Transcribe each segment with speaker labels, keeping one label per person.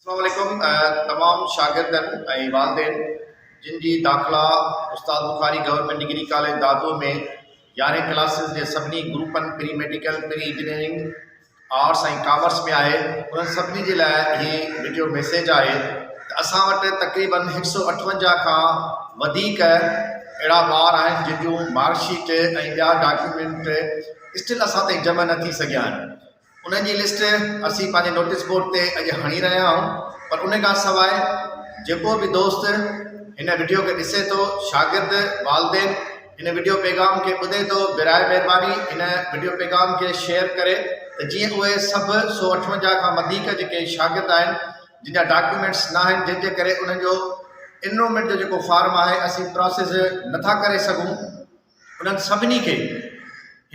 Speaker 1: اسلام عليڪم تمام شاگردن ۽ والدين جن جي داخلا Ustad Bukhari government degree college Dadu ۾ يارهين ڪلاسز جي سڀني گروپن pre medical pre engineering arts ۽ commerce ۾ آهي انهن سڀني جي لاء هي وڊيو ميسيج آهي ته اسان وٽ تقريبن هڪ سؤ اٺونجاهه کان وڌيڪ اهڙا ٻار آهن جن جون مارڪشيٽ ۽ ٻيا ڊاڪيومينٽ اسٽل اسان تائين جمع نه ٿي سگهيا آهن انهن جي لسٽ اسين پنهنجي نوٽيس بورڊ تي اڄ هڻي رهيا آهيون پر ان کان سواء جيڪو به دوست هن وڊيو کي ڏسي ٿو شاگرد والدين هن وڊيو پيغام کي ٻڌي ٿو برائي مهرباني هن وڊيو پيغام کي شيئر ڪري ته جيئن اهي سڀ سو اٺونجاهه کان وڌيڪ جيڪي شاگرد آهن جن جا ڊاڪيومينٽس نه آهن جنهن جي ڪري انهن جو انرومينٽ جو جيڪو فارم آهي اسين پراسيس نٿا ڪري سگهون انهن سڀني کي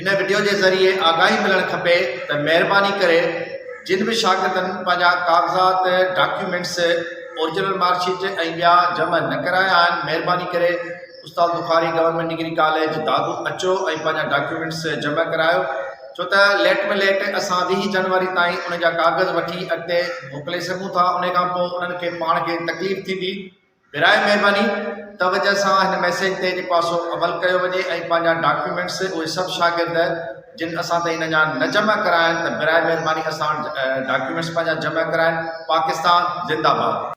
Speaker 1: هن وڊيو جي ذريعي آگاهي ملڻ کپي ته مهرباني ڪري جن به شاگردن پنهنجا ڪاغذات، ڊاڪيومينٽس، اورجنل مارڪ شيٽ ۽ ٻيا جمع نه ڪرايا آهن مهرباني ڪري Ustad Bukhari government degree college Dadu اچو ۽ پنهنجا ڊاڪيومينٽس جمع ڪرايو ڇو ته ليٽ ۾ ليٽ اسان ويهه جنوري تائين ان جا ڪاغذ وٺي اڳتي موڪلي سگهون ٿا ان کان پوء انهن کي پاڻ کي تڪليف ٿيندي. براهه مهرباني توجه سان هن ميسيج تي جيڪو آهي سو عمل ڪيو وڃي ۽ پنهنجا ڊاڪيومينٽس اهي سڀ شاگرد جن اسان تائين اڃا نه جمع ڪرايا آهن ته براهه مهرباني اسان وٽ ڊاڪيومينٽس پنهنجا جمع ڪرائن پاڪستان زنده باد.